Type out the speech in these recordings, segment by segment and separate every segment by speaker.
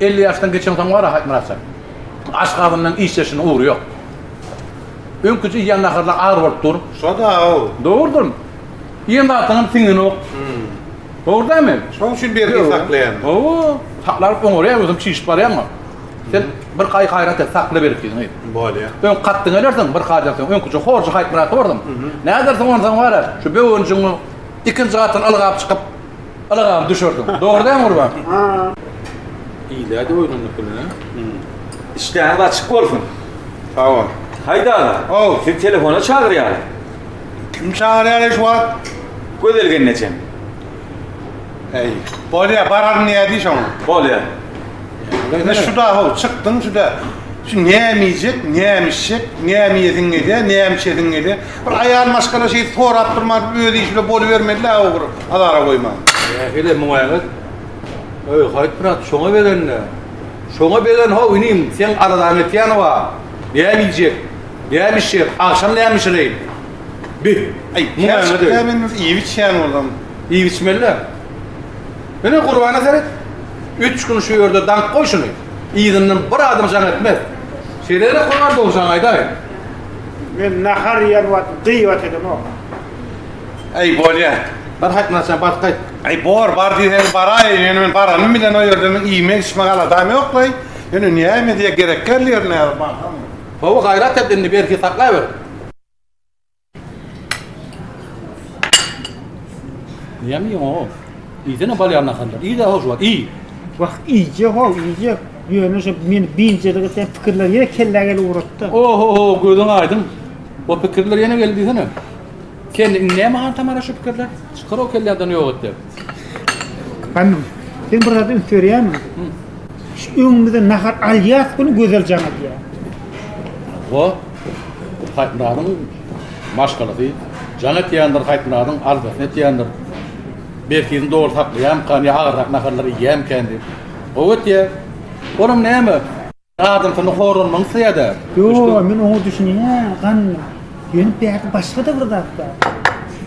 Speaker 1: Elli ýaşdan geçeňsoň wara Haýtmyratjan, aş gazyndan iş çeşiniň ugry ýok. Öňküje iýen naharlaň agyr bolup dur. Şo-da-ow.
Speaker 2: Dogrudan.
Speaker 1: Iýen zatyňam siňenok. Dogry dälmi? Şoň üçin bergi saklaýan.
Speaker 2: Hawa, saklaryp
Speaker 1: oňarýar, özem çişip barýaňmy? Sen bir gaý gaýrat et, sakla bergiňi. Bolýa. Öň
Speaker 2: katdyň gelersiň
Speaker 1: bir haýdan soň. Öňküje horjy Haýtmyrat borsuň. Nädersiň onsoň wara, şu böwenjigiň ikinji gatyny ylgap çykyp, Ylgap düşersiň. Dogry dämi Gurban?
Speaker 3: Iýdäýdi oýlandyk gününe. Işdäňiz açyk bolsun. Sag bol.
Speaker 2: Haýda aga.
Speaker 3: How. Sizi telefona
Speaker 2: çagyrýarlar.
Speaker 3: Kim
Speaker 2: çagyrýar eý şu wagt? Gözel gelnejem. Heý. Bolýa bararyn nädýi şoň. Bolýa.
Speaker 3: Ine
Speaker 2: şuda how çykdyň şuda. Şu näme iýjek, näme içjek, näme iýesiň gelýä, näme içesiň gelýä. Bir aýal maşgala şeýdip sorap durman öz işi bilen bolubermelidä ogry azara goýman. Nähili
Speaker 1: muňaýňyz? Öý haýt brat şoňa begenle. Şoňa begen how inim seň arazaň etýäni bar. Näme iýjek? Näme içjek? Agşam näme bişireýin? Bi, aý muňaýňyz
Speaker 2: öý. Näme indi
Speaker 1: iýip içýän
Speaker 2: bolam. Iýip içmelidä.
Speaker 1: Ine Gurbana seret. Üç gün şu ýerde daňk goý şuny. Yzyndan bir adam jaň etmez. Şeýle-de Gurban dogry jaň aýdaýyn. Men
Speaker 4: nahar iýen wagty gyýbat edemok. Äý,
Speaker 2: bolýa. Bar haýtmaçam,
Speaker 1: baryp gaýt. Äý, bor, bar
Speaker 2: diýseň baraýyn. Ýöne men baranym bilen o ýerde meniň iýmek-içmek aladam ýok-laý. Ýöne näme diýýä, gerek däl ýeri nädip barsam. Hawa, gaýrat
Speaker 1: et indi, belki saklaber. Näme iýeňok-ow? Iýsene bolýar naharlar. Iý-de, hoşwagt, iý. Wah,
Speaker 4: iýjek-ow, iýjek. Ýöne şu meni biynjalyk etýän pikirler ýene kellä gelip ugrady-da. Oho-ho, gözüň
Speaker 1: aýdyň. O pikirler ýene geldi diýsene. Kelle, indi näme han tamara şu pikirler? Çykar-ow kelläňden ýok et diýip.
Speaker 4: Hanym, sen bir zada üns berýärmiň? Şu öňümizden nahar alýas güni Gözel jaň edýär.
Speaker 1: O, Haýtmyradyň maşgalasy. Jaň etýändir, Haýtmyradyň aldasyny etýändir. Belki, yzyny dogry saklaýarmykan ýa agyrrak naharlar iýýärmikan diýip. Gowy etýär. Olam näme? Adam seni horanmagyny isleýädä. Ýoo, men oňa
Speaker 4: düşünýän, ganymy. Ýöne bärde başga-da bir zat bar.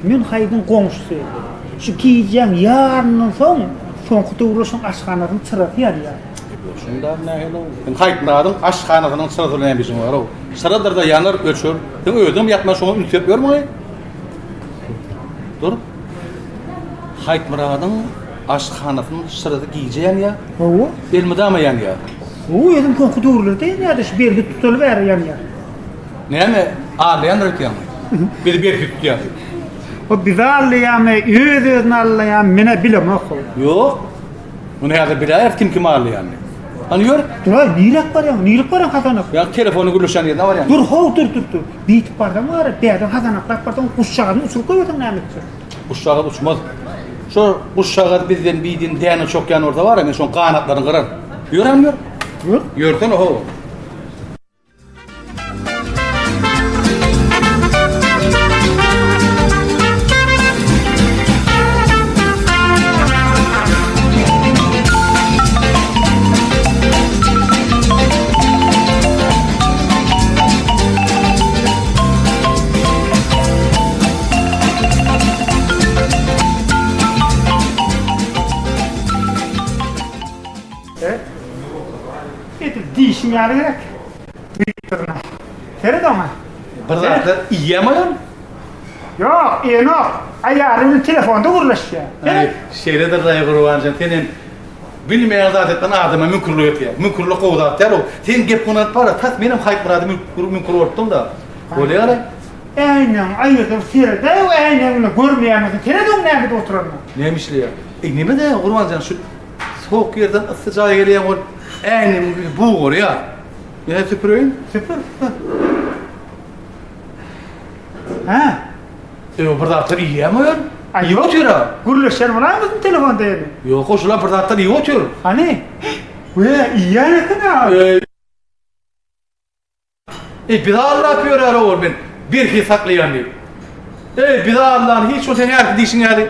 Speaker 4: Men Haýdyň goňşusy. Şu gijäň ýaryndan soň, soňky döwürler şoň aşhanasynyň çyrasy ýanýar. Goşuňdam
Speaker 1: nähili-ow? Seň Haýtnazyň aşhanasynyň çyrasy bilen näme işiň bar-ow? Çyradyr-da ýanar, öçer. Seň özüňem ýakman şoňa üns berip ýörmüň-eý? Dur. Haýtmyradyň aşhanasynyň şyrasy gije ýanýar. Hawa. Elmydama
Speaker 4: ýanýar.
Speaker 1: Hawa, özem soňky
Speaker 4: döwürlerde ýanýar-da, şu berhi tutaly bäri ýanýar. Näme,
Speaker 1: allaýandyr öýtýäňmi? Bizi berhi tutýar diýip. O bizi
Speaker 4: allaýarmy, öz-özüni allaýarmy, men-ä bilemok hol. Ýok.
Speaker 1: Muny häzir biläýeris kim kimi allaýanyny. Hany ýör. Dur-aý, niräk barýaň?
Speaker 4: Nilik barýaň Hasan aka? Ýa, telefony gürleşýän
Speaker 1: ýerine barýan. Dur, how, dur, dur, dur.
Speaker 4: Beýtip barsaň wara, bärden hazanaklap barsaň, guşjagazyny uçuryp goýberseň näme etjek? Guşjagaz uçmaz.
Speaker 1: Şo guşjagaz bizden biýdin däne çokýan bolsa wara, men şoň ganatlaryny gyraryn. Ýör hany ýör. Ýör. Ýörsene
Speaker 4: ho. Edip dişim ýaly gerek. Büyüklerine. Seret ona. Bir zatlar
Speaker 1: iýem oýan. Yok,
Speaker 4: enok. Ayarını telefonda gurlaşıyor. Ay, şeýledir
Speaker 1: raý gurbanjan. Sen hem Bilmeýän zat etmän adama müňkürlik etýär. Müňkürlik gowy zat däl ol. Sen gep gunanyp bar-a, tas menem Haýpmyrady müňkür bolupdym-da. Bolýa galaý. Äýnäňi
Speaker 4: aýyrdyr seredäý we äýnäň bilen görmeýäňizi sered oň näme edip oturanyna. Näme işleýär?
Speaker 1: Eý neme-de Gurban jan şu sowuk ýerden yssy jaýa gelýäň ol äýnegiň ýüzi bug bolýar. Ýene süpüreýin. Süpür, süpür.
Speaker 4: Hä?
Speaker 1: Sen bir zatlar iýýäňmi öýen? Iýip otyr-a.
Speaker 4: Gürleşer
Speaker 1: bolaýyň biziň
Speaker 4: telefonda ýene. Ýok-a, şul-a bir zatlar
Speaker 1: iýip otyr. Hany?
Speaker 4: Wä, iýýän eken-ä. Eý.
Speaker 1: Eý, bizi aldap ýörär owal men birhi saklaýan diýip. Eý, bizi aldan hiç bolsa sen ärki diýşiň ýaly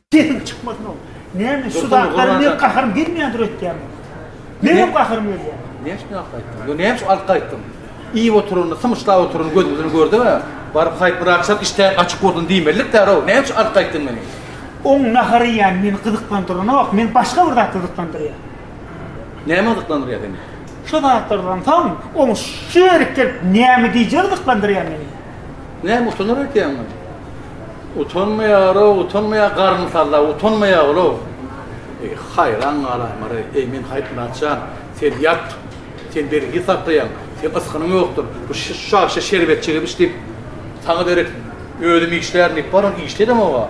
Speaker 4: Sesiň çykmasyn oň. Näme şu zatlar men gaharym gelmeýändir öýtýäň. Menem gaharym gelýär.
Speaker 1: Näme üçin alyp gaýtdyň? Ýo näme üçin alyp gaýtdyň? Iýip oturanyny, symyşlap oturanyny gözüň bilen gördüňä? Baryp haýp bir agşam işdäň açyk bolsun diýmelilik därow. Näme üçin alyp gaýtdyň meni? Oň nahar
Speaker 4: iýýäni meni gyzyklandyranok, meni başga bir zat gyzyklandyrýar.
Speaker 1: Näme gyzyklandyrýar seni? Şu zatlardan
Speaker 4: soň oň şu ýerik gelip näme diýjegi gyzyklandyrýar meni. Näme utanar
Speaker 1: ekeniň ony? Utanmaýar-ow, utanmaýar garny salla, utanmaýar ol-ow. Eý, haýran galamar-aý, eý, men Haýtmyrat jan, sen ýat, sen bergi saklaýaň, seň ysgynyň ýokdur, bu şagşy şerbetçi gebiş diýip, saňa derek özüm işlärin diýip baran, işli edem-ow-a.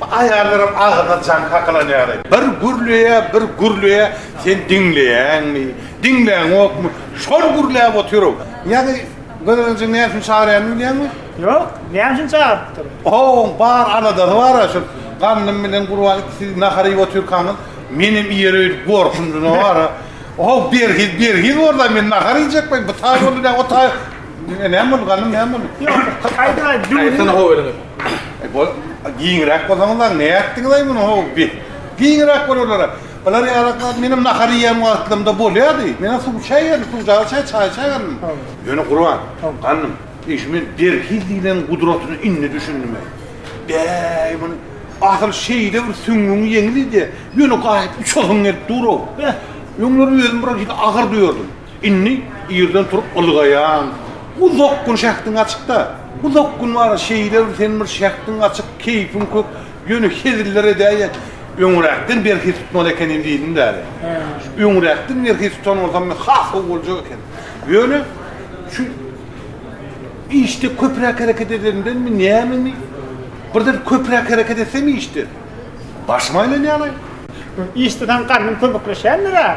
Speaker 2: Bu aýallaram agyzyna jaň kakalanýary. Bir gürleýä, bir gürleýä, sen diňleýäňmi, diňläňokmy, şol gürläp otyr-ow. Ýaňy Gözelje näme üçin çagyrýanyny bilýäňmi? Ýok, näme üçin
Speaker 4: çagyrypdyr? Oň bar
Speaker 2: aladasy bar-a, şol Gandym bilen Gurban ikisi nahar iýip otyrkaňyz, menem iýer öýdüp gorkundym-a bar-a. Oň berhiz, berhiz bolsa, men nahar iýjek welin, bu taý boldy dä, o taý. Näme boldy, Gandym, näme boldy? Ýok, aýdyň,
Speaker 4: aýdyň. Aýtsana howelini.
Speaker 1: Bol,
Speaker 2: giňräk bolsaňyzlaň, nätdiňiz-aý muny, how, bi. Giňräk bol olara. Bular ýalaklap, menem nahar iýen wagtlymda bolýardy. Menem suw-çaý iýerdim, suw-çaý içer, çaý içerdim. Ýöne Gurban, gandym, eýş, men berhiz diýleniň gudratyna indi düşündim-eý. Bäý, muny, asyl şeýle bir süňňüň ýeňlidi, ýöne gaýyp uçasyň gelip dur-ow. Öňler özüm biraz agyr duýardym. Indi irden turup ylgaýaň. Uzak gün şähdiň açyk-da. Uzak gün bar, şeýle bir sen bir şähdiň açyk, keýpiň kök, ýöne heziller edäýe. Öňräkden berhi tutmaly ekenim diýdim-de häli. Öňräkden berhi tutan bolsam men has gowy boljak eken. Ýöne şu işde köpräk hereket edendenmi, nämemi, birden köpräk hereket etsem işde, başym aýlanýar-aý. Işde saňa
Speaker 4: garnym kömekleşendir-ä?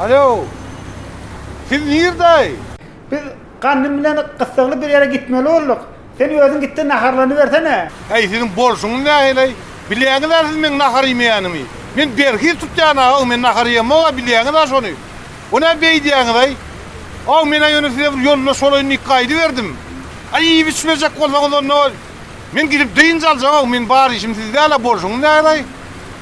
Speaker 2: Alo! Siz nirde? Biz
Speaker 4: Ganym bilen gyssagly bir ýere gitmeli bolduk. Sen özüň git-de naharlanybersene. Äý, siziň bolşuňyz
Speaker 2: näheleý? Bilýäňiz-ä siz meň nahar iýmeýänimi. Men berhiz tutýan-a, haw, men nahar iýemok-a, bilýäňiz-ä şony. O nä beýdýäňiz-aý? Haw, men-ä ýöne size bir ýoldaş bolaýyn diýip gaýdyberdim. Äý, iýip-içmejek bolsaňyz onda, men gidip dynç aljak-ow, meniň bar işim sizde-le, bolşuňyz näheleý?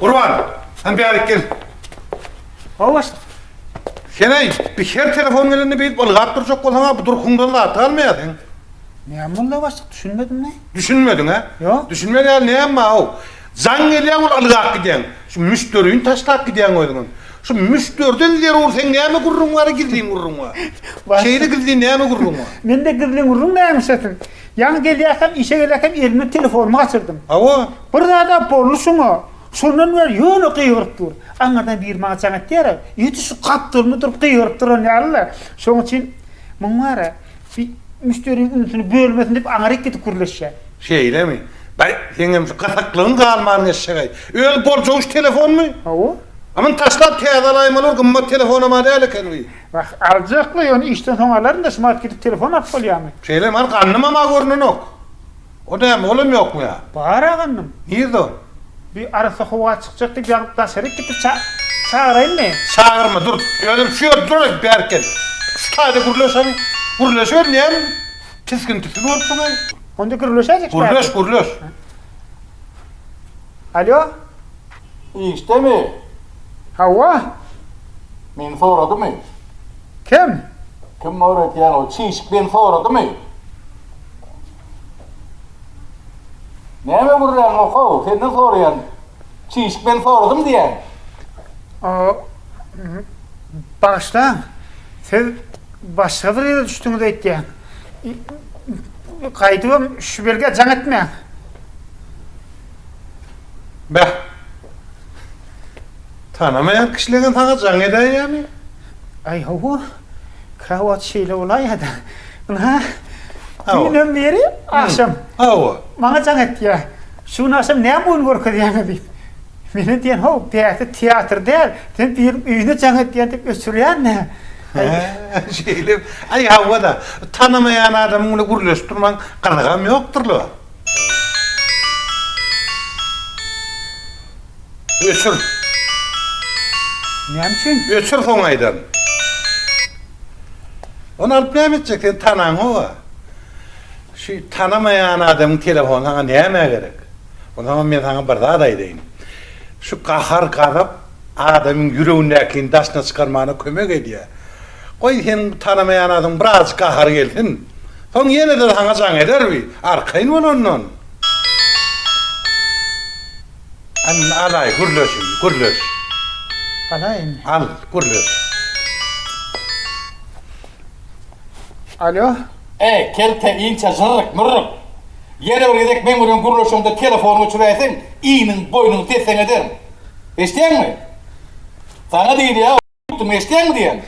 Speaker 2: Gurban, sen bärik gel. Hawa. Seneý, bir her telefon gelende beýdip ylgap durjak bolsaň-a, bu durkuňdan zat galmaýarsyň. Näme boldy
Speaker 4: başlyk, düşünmedim-le. Düşünmediň-ä? Ýok.
Speaker 2: Düşünmez ýaly
Speaker 4: näme bar-ow?
Speaker 2: Jaň gelýär bul ylgap gidýäň. Şu müşderini taşlap gidýäň özüňem. Şu müşderiden zerur seň näme gürrüň bar-a, gizlin gürrüň bar. Şeýle gizlin näme gürrüň bar? Mende gizlin gürrüň
Speaker 4: nämişesiň? Ýaňy gelýärkäm, işe gelýärkäm elimden telefonymy gaçyrdym. Hawa. Bir zad-a
Speaker 2: boldy
Speaker 4: şuňa. Şondan bäri ýöne gygyryp dur. Aňyrdan biri maňa jaň etýär-ä. Ýetişik gapdalymda durup gygyryp duran ýaly-la. Şonuň üçin muň bar-a, bir müşderiniň ünsüni bölmesin diýip aňryk gidip gürleşýän. Şeýlemi?
Speaker 2: Bäý, seňem şu gyzyklygyň galmanyn eşşeg-eý. Özi boljagyş telefonmy? Hawa. A muny
Speaker 4: taşlap
Speaker 2: täze alaýmaly bir gymmat telefonam-a däl ekeni-wi. Wah, aljakly,
Speaker 4: ýöne işden soň alaryn-da, şumat gidip telefon alyp bolýarmy? Şeýle mal gandymam-a
Speaker 2: görnenok. O näme, olam ýokmy ýa? Bar-a gandym.
Speaker 4: Nirde ol?
Speaker 2: Bi arassa howa
Speaker 4: çykjak diýip ýaňyp daşaryk gitdi, ça-çagyraýynmy? Çagyrma, dur,
Speaker 2: özüm şu ýerde duraýyn, bärik gel. Şu taýda gürleşeň. Gürleşiber, näme tisgin-tisgin bolupsyň-aý? Onda gürleşäýjek bärik.
Speaker 4: Gürleş, gürleş. Alýo?
Speaker 1: Işdemi? Hawa. Meni soradymy? Kim?
Speaker 4: Kim
Speaker 1: öwretýän o çişik meni soradymy? Näme gürränini oka-ow, senden soraýan. Çişik meni soradymy diýýän? O,
Speaker 4: bagyşlaň, siz başga bir ýere düşdüňiz öýtýän. Gaýdybam şu belgä jaň etmäň.
Speaker 2: Beh. Tanamaýan kişileňem saňa jaň edäýýä ýamy? Aý hawa.
Speaker 4: Krowat şeýle bolaýýa-da. Ynha, düýnden
Speaker 2: beri
Speaker 4: agşam Hawa. maňa
Speaker 2: jaň etýä.
Speaker 4: Şu gün agşam näme oýun görkezýäňiz diýip. Menä diýen-how, däti teatr däl, sen biriniň öýüne jaň etýän diýip öçürýän-dä. He,
Speaker 2: şeýlemi? Aý hawa-da. Tanamaýan adamyň bilen gürleşip durmaň gyzygam ýokdur-la. Öçür.
Speaker 4: Näme üçin? Öçür soň aýdan.
Speaker 2: Ony alyp näme etjek sen tanaň owa. Şu tanamaýan adamyň telefony saňa näme gerek. Onsoňam men saňa bir zat aýdaýyn. Şu gahar gazap Adamyň ýüregindäkini daşyna çykarmagyna kömek edýär. Goý, seniň bu tanamaýan adyň birazajyk gahary gelsin. Soň ýene-de saňa jaň eder bi, arkaýyn bol ondan. Al, alaý, gürleş indi, gürleş.
Speaker 4: Alaý indi. Al,
Speaker 2: gürleş.
Speaker 4: Alo.
Speaker 1: Eý, kelte inçe jyrryk, mürrük. Ýene bir gezek meň bilen gürleşeňde telefony öçüräýseň, iniň, boýnuň tesseň ederin. Eşidýäňmi? Saňa diýilýär, oýtdum, eşidýäňmi diýen.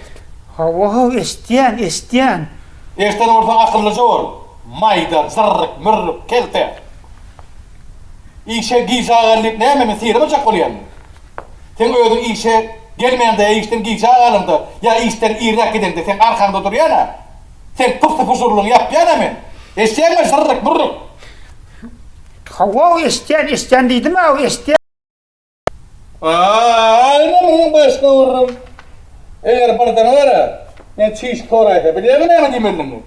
Speaker 1: Hawa-how,
Speaker 4: eşidýän, eşidýän.
Speaker 1: Eşiden bolsaň akyllyja bol, maýda, zyrryk, mürrük, kelte. Işe gijä gal diýip näme, men syrymy jak bolýaryn? Seň özüň işe gelmäňde ýa işden gijä galaňda ýa işden irräk gideňde seň arkaňda durýan-a, seň pysy-pyjurlygyňy ýapýan-a men. Eşidýäňmi, zyrryk, mürrük? Hawa-how,
Speaker 4: eşidýän, eşidýän diýdim-ä, eşidýän.
Speaker 1: Aýna munyň başyna urrun. Eger birden gara, men çiş koraýsa, bilýäňmi näme diýmelidimi?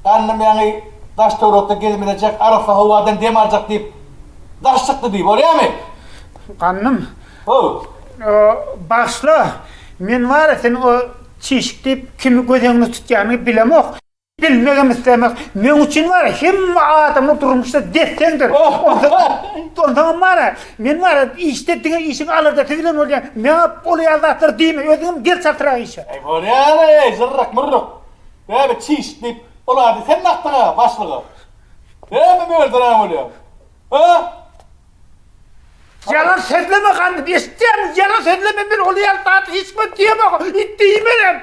Speaker 1: Gandym ýaňy daş-töwerekde gezmelejek, arassa howadan dem aljak diýip, daş çykdy diý, bolýamy? Gandym.
Speaker 4: How. Bagyşla, men wara seni o çişik diýip, kimi göz öňüne tutýanyny bilemok. Bilmegem islemek meň üçin wara hemme adamlar durmuşda desseňdir. Onsoňam wara men wara işde diňe işiň alardasy bilen bolýar. Maňa ol ýaly zatlar diýme özüňem gir çaltrak işe. Eý bolýar-a
Speaker 1: eý zyrryk myrryk. Bäbe çiş diýip ol ady sen dakdyň-a başlyga. Näme mölderäň bolýar.
Speaker 4: Hä? Ýalan sözleme gandym eşitýäňmi ýalan sözleme men ol ýaly zady hiç wagt diýemok it diýmenem.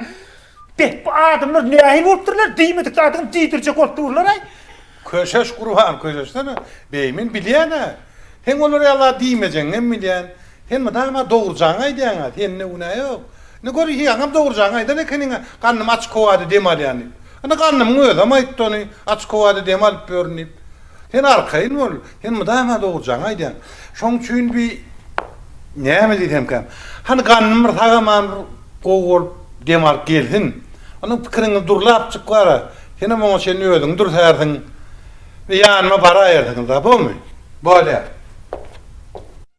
Speaker 4: Beh bu adamlar nähili bolupdyrlar diýmedik zadyňy diýdirjek bolup durlaray. Köşeş
Speaker 2: gurban köşeşsene beý men bilýänä sen olar ýala diýmejegiňem bilýän sen mydama dogrujaňy aýdýaňa sende günä ýok indi gör ýaňam dogrujaňy aýdan ekeniňä gandym aç kowada dem alýan diýip indi gandymyň özem aýtdy ony aç kowada dem alyp ýörün diýip sen arkaýyn bol Sen mydama dogrujaňy aýdýaň. Şoň üçin bi näme diýsemkäm. Hany gandym bir sag-aman bir gowy bolup dem alyp gelsin. Ondan pikiriňi durlapjyk bar-a. Senem oňa çenli özüňi dürsärsiň. Bir ýanyma baraýersiňiz-a, bomy? Bolýar.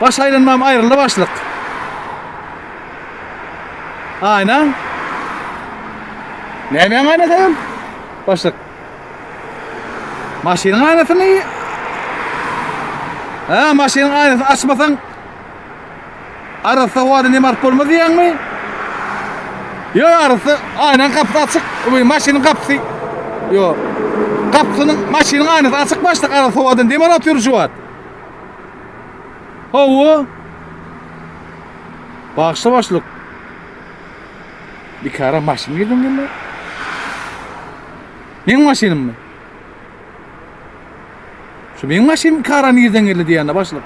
Speaker 1: Baş aýlanmam aýryldy başlyk. Aýna. Nämäň aýnasy ol? Başlyk. Maşynyň aýnasymy? Ha, maşynyň aýnasyny açmasaň arassa wada nemart bolmaz diýýäňmi? Yo arassa aýnaň gapysy açyk, bu maşynyň gapysy. Yo. Gapysynyň maşynyň aýnasy açyk başlyk arassa wadan demar atyr şu wagt. Hawa. Bagşa başlyk. Bikara maşyn girdim gelme. Meň maşynym mı? Şu meň maşynym kara nirden geldi diýende başlyk.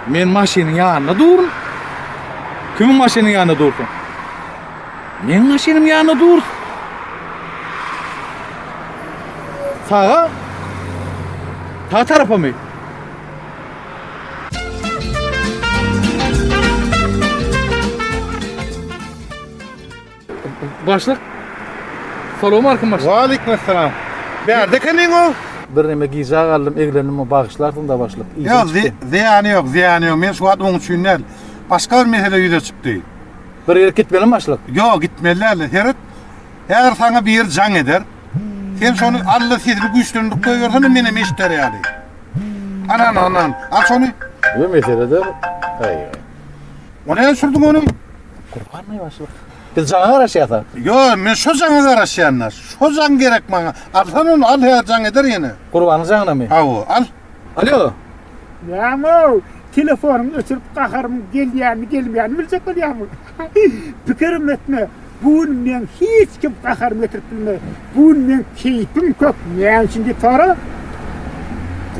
Speaker 1: Men maşynyň ýanynda durun. Kimiň maşynyň ýanynda dursun? Meň maşynym ýanynda dur. Saga. Sag tarapamy? Başlyk. Salam aleykum başlyk. Wa aleykum assalam.
Speaker 2: Bärde ekeniň o? Bir neme gijä
Speaker 1: galdym, eglendim, bagyşlarsyň da başlyk. Ýok, zyýany
Speaker 2: ýok, zyýany ýok. Men şu wagt oň üçin däl. Başga bir mesele ýüze çykdy. Bir ýere
Speaker 1: gitmelimi başlyk? Ýok, gitmeli däldir.
Speaker 2: Seret, häzir saňa biri jaň eder. Sen şony Alla sesini güýçlendirip goýbersene menem eşider ýaly. Anan, anan, al şony. Ýok, mesele däl.
Speaker 1: Aý. O
Speaker 2: näme sürdiň ony? Gurbanmaý
Speaker 1: başlyk. Biz jaňa garaşýasa? Ýok, men şo
Speaker 2: jaňa garaşýan-da. Şo jaň gerek maňa. Alsana ony, al häzir jaň eder ýene. Gurbanyň jaňynamy?
Speaker 1: Hawa, al.
Speaker 2: Alo.
Speaker 1: Näme?
Speaker 4: Telefonyňy öçürip gaharym gelýänmi, gelmeýänmi biljek bolýarmy? Pikirim etme. Bu gün men hiç kim gaharymy getirip bilmez. Bu gün men keýpim kök.
Speaker 1: Näme
Speaker 4: üçin diýip sora?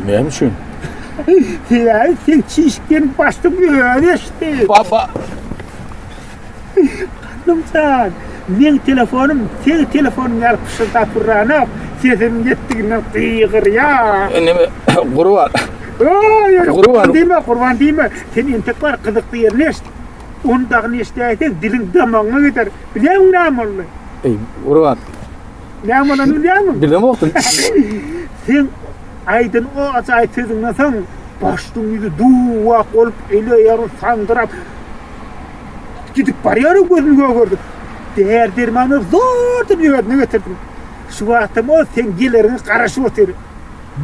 Speaker 4: Näme üçin? Sebäbi sen çişip gelip başdyň özi eşitdi. Baba. Gandymjan, meň telefonym seň telefonyň ýaly pyşyrdap urranok, sesimiň ýetdiginden gygyrýar. Neme,
Speaker 3: Gurban? Oý, ýöne
Speaker 4: Gurban diýme, Gurban
Speaker 3: diýme.
Speaker 4: Sen entek bar, gyzykly ýerini eşit. Ony dagyny eşidäýseň, diliň damagyňa gider. Bilýäňmi näme boldy? Eý, Gurban.
Speaker 3: Näme bolanyny
Speaker 4: bilýäňmi? Bilemokdym.
Speaker 3: Seň
Speaker 4: aýdan o ajaýyp sözüňden soň, başlygyň ýüzi duwak bolup, ele-eýagyn sandyrap, Gidip barýaryn gözüni gögerdip. Däri-dermanlar zordan özüne getirdim. Şu wagtam ol seň geleriňe garaşyp otyr.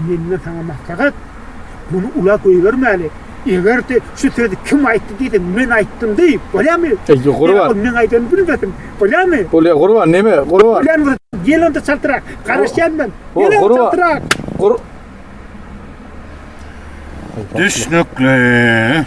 Speaker 4: Menden saňa maslahat, muny ula goýbermäli. Eger-de şu sözi kim aýtdy diýse, men aýtdym diý, bolýamy? Eý, Gurban. Ol meň aýdanymy
Speaker 3: bilmesin,
Speaker 4: bolýamy? Bolýa, Gurban, neme,
Speaker 3: Gurban? Bolýan bolsa, gel onda
Speaker 4: çaltrak, garaşýan men. Gel, çaltrak. Gurban.
Speaker 2: Düşnükli.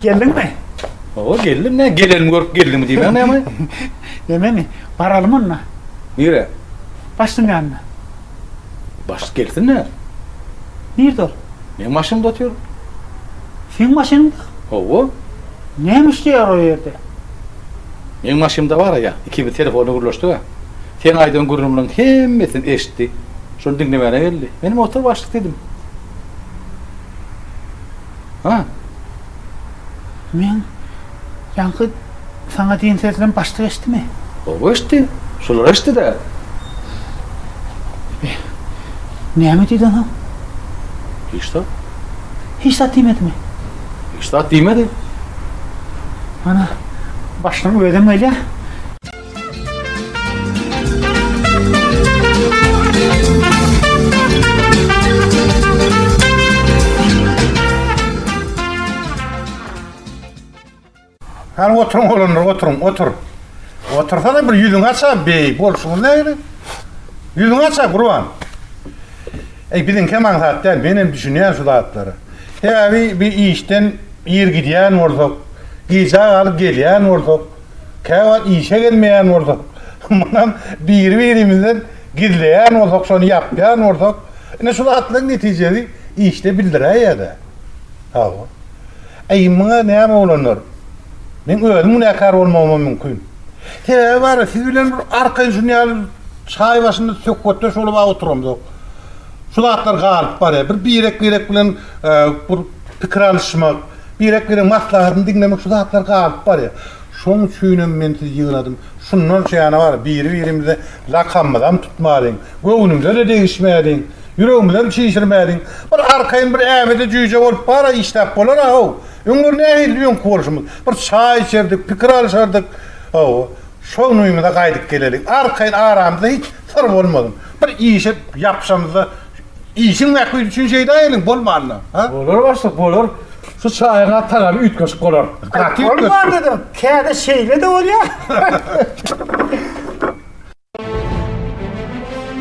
Speaker 4: Geldiňmi? Hawa, geldim. Nä,
Speaker 3: gelenimi görüp geldiňmi diýmäň näme? Nememi?
Speaker 4: Baralymy onda. Nirä?
Speaker 3: Başlygyň
Speaker 4: ýanyna.
Speaker 3: Başlyk gelsin näme? Nirde
Speaker 4: ol? Meň maşynymda otyr.
Speaker 3: Seň
Speaker 4: maşynyňda? Hawa.
Speaker 3: Näme
Speaker 4: işleýär o ýerde?
Speaker 3: Meň maşynymda bar-a ýa, ikimiz telefonda gürleşdik-ä. Seň aýdan gürrüňleriň hemmesini eşitdi. Şony diňlemäne geldi. Menem otur başlyk diýdim. Ha.
Speaker 4: Men ýaňky saňa diýen sözlerim başda geçdimi? Gowy geçdi.
Speaker 3: Şular geçdi-dä. Eý,
Speaker 4: näme diýdiň soň? Hiç
Speaker 3: zat.
Speaker 4: Hiç zat diýmedimi? Hiç zat
Speaker 3: diýmedi.
Speaker 4: Ana, başlygyň özem gelýär.
Speaker 2: Hany oturyň olanlar oturyň otur. Otursana bir ýüzüň aça beý bolşuň näme? Ýüzüň aça gurban. Ey biziň hem aňsat däl men hem düşünýän şu zatlara. Sebäbi bir işden ir gidýän bolsak, gijä galyp gelýän bolsak, Käwagt işe gelmeýän bolsak, mundan biri-birimizden gizleýän bolsak, şony ýapýan bolsak, ine şu zatlaryň netijesi işde bildiräýýär-dä. Hawa. Eý, muňa näme oglanlar? Meň özüm günäkär bolmagymam mümkin. Sebäbi bar-a, siz bilen bir arkaýyn şuny ýaly çaý başynda söhbetdeş bolup-a oturamzok. Şu zatlar galyp barýar. Bir birek-birek bilen bir pikir alyşmak, Birek-biregiň maslahatyny diňlemek şu zatlar galyp barýar. Şoň üçinem men sizi ýygnadym. Şundan şäne bar, biri-birimize lakamymyzam tutmalyň, göwnümize-de degişmäliň, ýüregimizem çişirmäliň. Bir arkaýyn bir äbede jüýje bolup bar-a, işläp bolar-a, haw. Öňler nähilidy öňki bolşumyz? Bir çaý içerdik, pikir alyşardyk, hawa. Şol nuýumyza gaýdyp gelelik. Arkaýyn aramyzda hiç syr bolmasyn. Bir işe ýapyşamyzda işiň mähbit üçin şeýda geliň, bolmanda, ha? Bolar başlyk, bolar.
Speaker 3: Şu çaýyň-a tagamy
Speaker 4: üýtgeşik bolar. Gaty
Speaker 3: üýtgeşik.
Speaker 4: Bolmanda-da,
Speaker 3: käte
Speaker 4: şeýle-de
Speaker 3: bolýar.